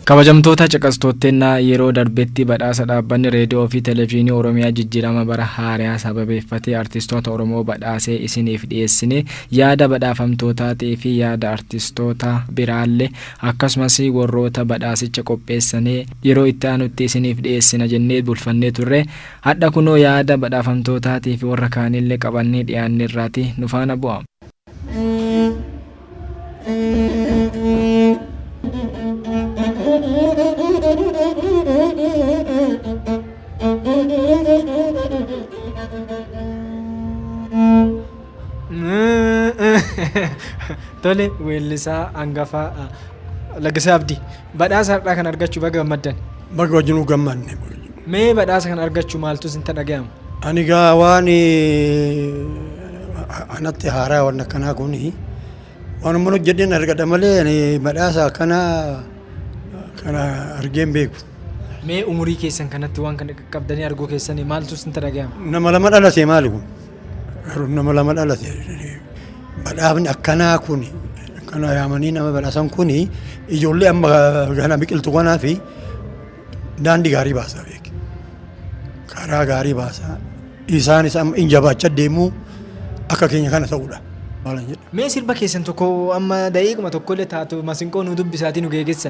Kabajamtoota caqastootteennaa yeroo darbetti badhaasa dhaabbanni reediyoo fi televezyiinii Oromiyaa jijjiirama bara haarayaa sababeeffatee artistoota Oromoo badhaasee isiniif dhiyeessine Yaada badhaafamtootaa teefi yaada artistoota biraalle akkasumas worroota badhaasicha qopheessane yeroo itti aanutti isiniif dhiyeessina jennee bulfannee turre. Hadha kunoo yaada badhaafamtootaa teefi worra kaanille qabannee dhiyaannerraati. Nu faana bu'a. Tole weellisaa hangafaa ah, Laggasaa Abdii. Badhaasa har'aa kan argachuu baga gammaddan. Baga wajjinuu gammanne. baga wajjinuu. Mee badhaasa kan argachuu maaltu isinta dhagayama? Ani gaa waan anatti haaraa waan akkanaa kun waanuma hojjedheen argadha malee ani badhaasa akkanaa kana argeen beeku. Mee umurii keessan kanatti waan kana qaqqabdanii arguu keessanii maaltu isinta dhagayama? Nama lama dhalate maali kun? nama lama dhalate badhaafni akkanaa kun kana yaamanii nama badhaasan kun ijoollee amma kana biqiltu kanaa fi daandii gaarii baasaa beeki. Karaa gaarii baasaa isaanis amma in jabaacha deemuu akka keenya kana ta'uudha. Maalan jedha. Mee sirba keessan tokko amma da'iiquma tokko illee taatu masinqoo nu dubbisaatii nu geegessa.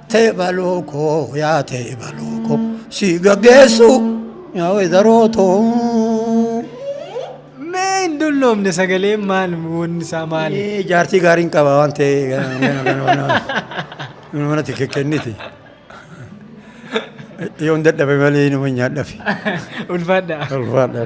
Tee baloo koo yaa tee baloo koo si gaggeessu yaa wedaroo too. Mee hin dulloomne sagalee maal wanni isaa maali? Ee, Jaartii gaariin qaba waan ta'e gana- gana- gana- gana- gana manatti kekkenniti. Yoo hin dadhabe malee nama hin nyaadhafi. Ulfaadhaa. Ulfaadhaa.